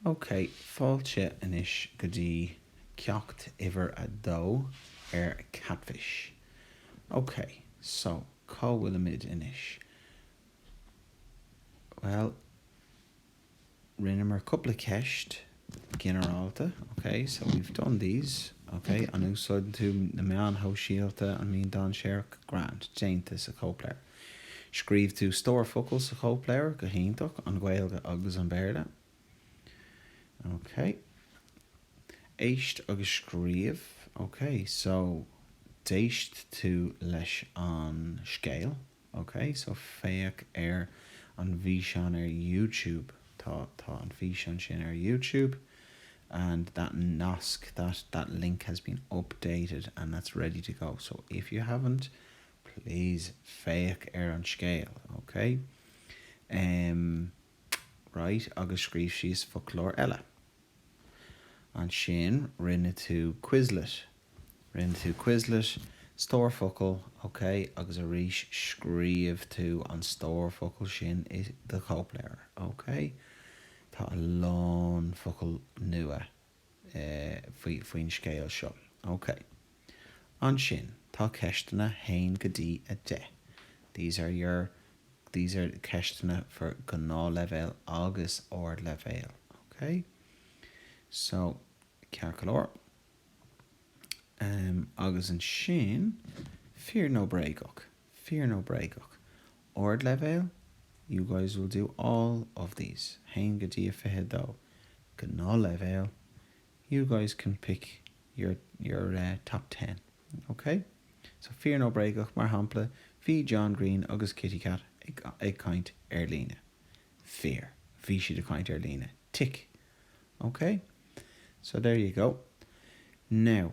OK, fáilte anois go dtí ceacht uimhir a dó ar Katfish. OK, so, cá bhfuilimid anois? Bhuel, rinneamar cúpla ceist Ginearálta, OK, so we've done these, OK, an úsáideann tú na meáin shóisialta, an mbaineann dainséar, grand, déanta sa chóipleabhar? Scríobh tú stór focal sa chóipleabhar? Go hiontach, an Ghaeilge agus an Béarla. OK. Éist agus scríobh, OK, so d'éist tú leis an scéal? OK, so féach ar an bhfíseán ar YouTube. Tá, tá an físeán sin ar YouTube and that nasc, that, that link has been updated and that's ready to go. So if you haven't, please féach ar an scéal, OK? Em. Right, agus scríobh síos foclóir eile. Ansin rinne tú Quizlet. Rinne tú Quizlet, stór focal, ok, agus arís scríobh tú an stór focal sin i do chóipleabhar, ok? Tá a lán focal nua faoin scéal seo. Ok. Ansin, tá ceisteanna haon go dtí a deich. These are your, these are ceisteanna for Gnáthleibhéal agus Ardleibhéal. Ok? So, ceart go leor. Agus ansin, fíor nó bréagach? Fíor nó bréagach? Ardleibhéal? You guys will do all of these, 1 go dtí 22. Gnáthleibhéal? You guys can pick your your top ten, ok? So fíor nó bréagach, mar shampla, bhí John Green agus KitiKat ag ag caint ar líne. Fíor. Bhí siad ag caint ar líne. Tic. Ok? So there you go. Now.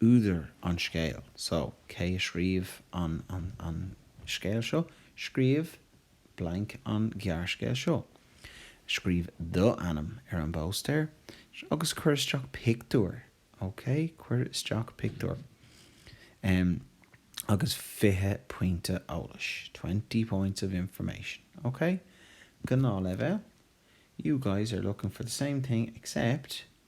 údar an scéil. So, cé a scríobh an an scéal seo? Scríobh blank an gearrscéal seo. Scríobh the ainm ar an bpóstaer agus cuir isteach pictiúr, ok? Cuir isteach pictiúr. em. agus fiche pointe eolais, twenty points of information, ok? Gnáthleibhéal, You guys are looking for the same thing except.